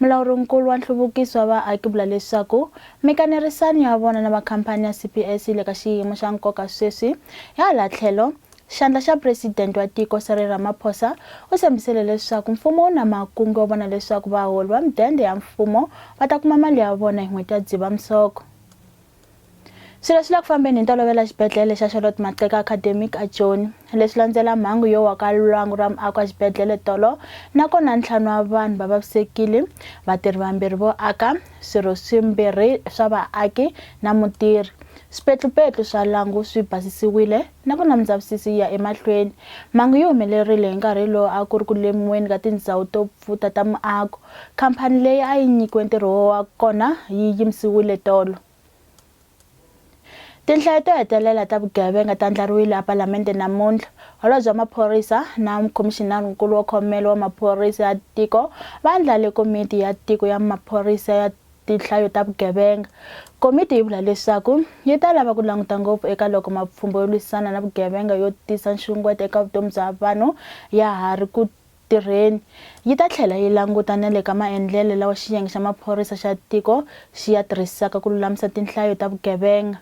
Mulawuri-nkulu wa nhluvukiso wa vaaki vula leswaku mikanerisano ya vona na va khampani ya CPS yi le ka xiyimo xa nkoka sweswi. Hi hala tlhelo, xandla xa Presidente wa tiko Cyril Ramaphosa u tshembisile leswaku mfumo wu na makungu yo vona leswaku vaholi va mudende ya mfumo va ta kuma mali ya vona hi n'hweti ya Dzivamisoko. Swilo swi le ku fambeni hi ntolovelo exibedhlele xa Charlotte Maxeke Academic eJoni. Leswi landzela mhangu yo wa ka lwangu ra muako exibedhlele tolo, nakona ntlhanu wa vanhu va vavisekile, vatirhi vambirhi vo aka, swirho swimbirhi swa vaaki na mutirhi. Swipetlupetlu swa lwangu swi basisiwile, nakona mindzavisisi yi ya emahlweni. Mhangu yi humelerile hi nkarhi lowu a ku ri ku lemiweni ka tindzhawu to pfuta ta muako. khamphani leyi a yi nyikiwe ntirho wa kona yi yimisiwile tolo. Tinhlayo to hetelela ta vugevenga ta ndlariwile ePalamende namuntlha. Holobye wa Maphorisa na Khomixinarinkulu wa Khomelo wa Maphorisa ya Tiko va andlale Komiti ya Tiko ya Maphorisa ya Tinhlayo ta Vugevenga. Komiti yi vula leswaku yi ta lava ku languta ngopfu eka loko mapfhumba yo lwisana na vugevenga yo tisa nxungeto eka vutomi bya vanhu ya ha ri ku tirheni, yi ta tlhela yi languta na le ka maendlelo lawa Xiyenge xa Maphorisa xa Tiko xi ya tirhisaka ku lulamisa tinhlayo ta vugevenga.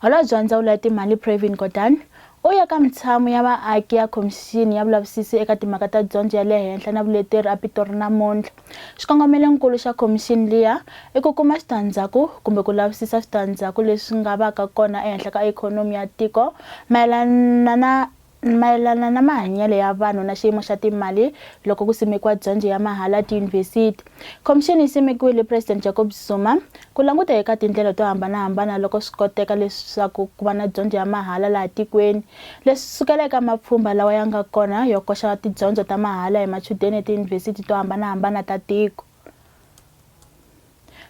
Holobye wa Ndzawulo ya Timali Pravin Gordhan u ye ka mintshamo ya vaaki ya Khomixini ya Vulavisisi eka Timhaka ta Dyondzo ya le Henhla na Vuleteri aPitori namuntlha. Xikongomelonkulu xa khomixini liya i ku kuma switandzhaku kumbe ku lavisisa switandzhaku leswi nga vaka kona ehenhla ka ikhonomi ya tiko mayelana na Mayelana na mahanyelo ya vanhu na xiyimo xa timali loko ku simekiwa dyondzo ya mahala etiyunivhesiti, khomixini yi simekiwile hi President Jacob Zuma ku languta eka tindlela to hambana-hambana loko swi koteka leswaku ku va na dyondzo ya mahala laha tikweni, leswi sukela eka mapfhumba lawa ya nga kona yo koxa tidyondzo ta mahala hi machudeni etiyunivhesiti to hambana-hambana ta tiko.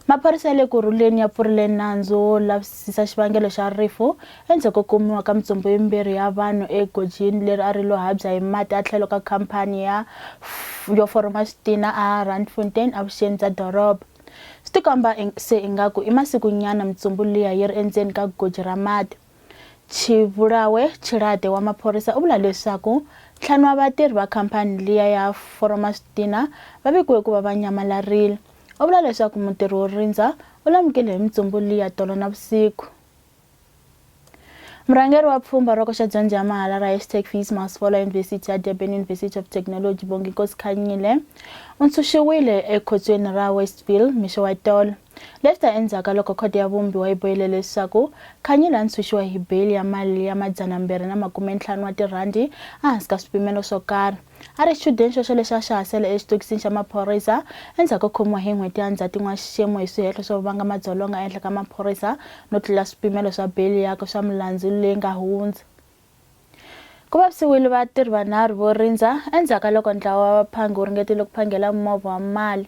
Maphorisa ya le ku rhuleni ya pfurile nandzu wo lavisisa xivangelo xa rifu endzhaku ko kumiwa ka mitsombo yimbirhi ya vanhu egojini leri a ri lo habya hi mati a tlhelo ka khampani ya yo foroma switina a Randfontein evuxeni bya doroba. Swi tikomba se ingaku i masiku nyana mitsombo liya yi ri endzeni ka goji ra mati. Chivulawe Chilade wa maphorisa u vula leswaku ntlhanu wa vatirhi va khampani liya ya Foromas Dina va vikiwe ku va va nyamalarile. U vula leswaku mutirhi wo rindza u lamukile hi mintsumbu liya tolo na vusiku. Murhangeri wa pfhumba roko xa dyondzo ya mahala ra hashtag Fees Must Follow University ya Durban University of Technology Bonginkosi Khanyile u ntshunxiwile ekhotsweni ra Westville mixo wa tolo. Leswi ta endzhaku ka loko Khoto ya Vumbiwa yi bohile leswaku Khanyile a ntshunxiwa hi beyili ya mali ya madzanambirhi na makumentlhanu wa tirhandi ehansi ka swipimelo swo karhi. A ri xichudeni xoxo lexi a xi ha sele exitokisini xa maphorisa endzhaku ko khomiwa hi n'hweti ya Ndzhati n'waxixemu hi swihehlo swo vanga madzolonga ehenhla ka maphorisa no tlula swipimelo swa beyili yakwe swa milandzu leyi nga hundza. Ku vavisiwile vatirhi vanharhu vo rindza endzhaku ka loko ntlawa wa vaphangi wu ringetile ku phangela movha wa mali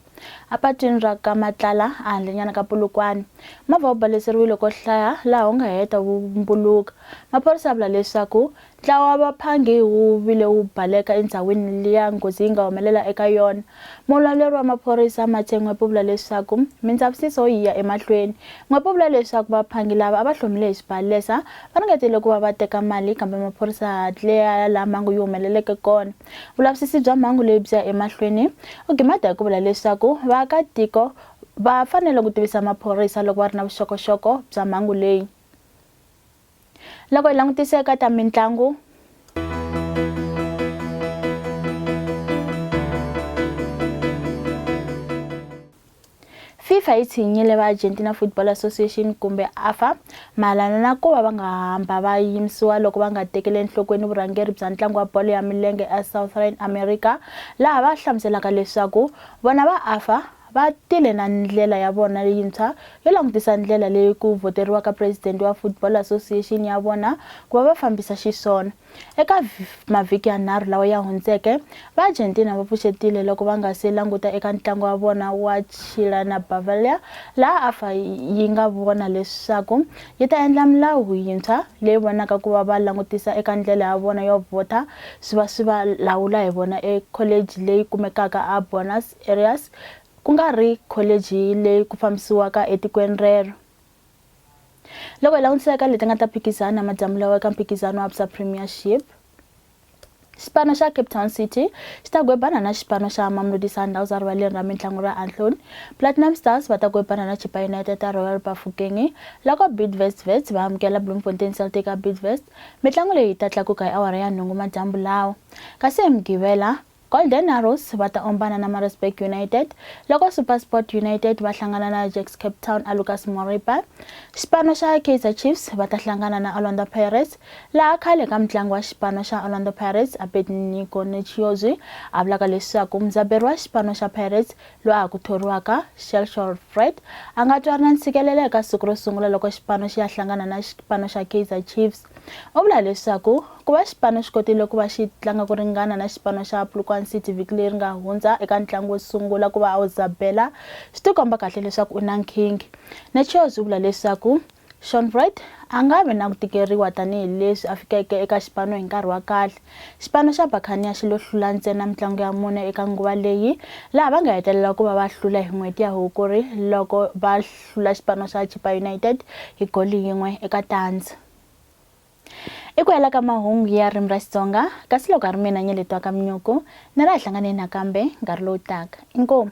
epatwini ra ka Matlala ehandlenyana ka Polokwane. Movha wu baleseriwile ko hlaya laha wu nga heta wu mbuluka. Maphorisa ya vula leswaku ntlawa wa vaphangi wu vile wu baleka endhawini liya nghozi yi nga humelela eka yona Mulawuleri wa maphorisa Mathe N'wepe u vula leswaku mindzavisiso yi ya emahlweni. N'wepe u vula leswaku vaphangi lava a va hlomile hi xibalesa va ringetile ku va va teka mali kambe maphorisa a hatle ya ya laha mhangu yi humeleleke kona. Vulavisisi bya mhangu leyi byi ya emahlweni. U gimade hi ku vula leswaku vaakatiko va fanele ku tivisa maphorisa loko va ri na vuxokoxoko bya mhangu leyi. loko hi langutisa eka ta mitlangu fifa yi tshinyile va argentina football association kumbe afa mayelana na ku va va nga hamba va yimisiwa loko va nga tekele enhlokweni vurhangeri bya ntlangu wa bolo ya milenge esouthern america laha va hlamuselaka leswaku vona va afa Va tile na ndlela ya vona leyintshwa yo langutisa ndlela leyi ku vhoteriwaka presidente wa Football Association ya vona ku va va fambisa xiswona. Eka mavhiki yanharhu lawa ya hundzeke, va Argentina va pfuxetile loko va nga si languta eka ntlangu wa vona wa Chile na Bavaria laha AFA yi nga vona leswaku yi ta endla milawu yintshwa leyi vonaka ku va va langutisa eka ndlela ya vona yo vhota swi va swi va lawula hi vona ekholeji leyi kumekaka a Buenos Areas, ku nga ri kholichi leyi ku fambisiwaka etikweni rero. Loko hi langutisa eka leti nga ta phikizana madyambu lawa eka mphikizano wa Absa Premiership, xipano xa cape town city xi ta gwebana na xipano xa mamelodi sundowns erivaleni ra mitlangu ra anhloni platinum stars va ta gwebana na chipa united ta royal bafokeng loko bidvest vets va amukela bloemfontein celtic a bidvest mitlangu leyi yi ta tlakuka hi awara ya nhungu madyambu lawa kasi hi mugivela Golden Arrows va ta ombana na Maritzburg United loko SuperSport United va hlangana na Ajax Cape Town a Lucas Moripa. Xipano xa Kaizer Chiefs va ta hlangana na Orlando Pirates laha khale ka mutlangi wa xipano xa Orlando Pirates Abednego Netshiozwi a vulaka leswaku mudzaberi wa xipano xa Pirates loyi a ku thoriwaka Shelshore Fred a nga twa ri na ntshikelelo eka siku ro sungula loko xipano xi ya hlangana na xipano xa Kaizer Chiefs U vula leswaku ku va xipano xi kotile ku va xi tlanga ku ringana na xipano xa Polokwane City vhiki leri nga hundza eka ntlangu wo sungula ku va a wu zabela swi tikomba kahle leswaku u na nkhinkhi. Netshios u vula leswaku Shaun Wright a nga vi na ku tikeriwa tanihi leswi a fikeke eka xipano hi nkarhi wa kahle. Xipano xa Buccaneer xi lo hlula ntsena mitlangu ya mune eka nguva leyi laha va nga hetelela ku va va hlula hi n'hweti ya Hukuri loko va hlula xipano xa Chippa United hi goli yin'we eka tandza. I ku hela ka mahungu ya ririmi ra Xitsonga, kasi loko a ri mina Nyeletwa ka Mnyuku, ni ri a hlanganeni nakambe nkarhi lowu taka. Inkomu!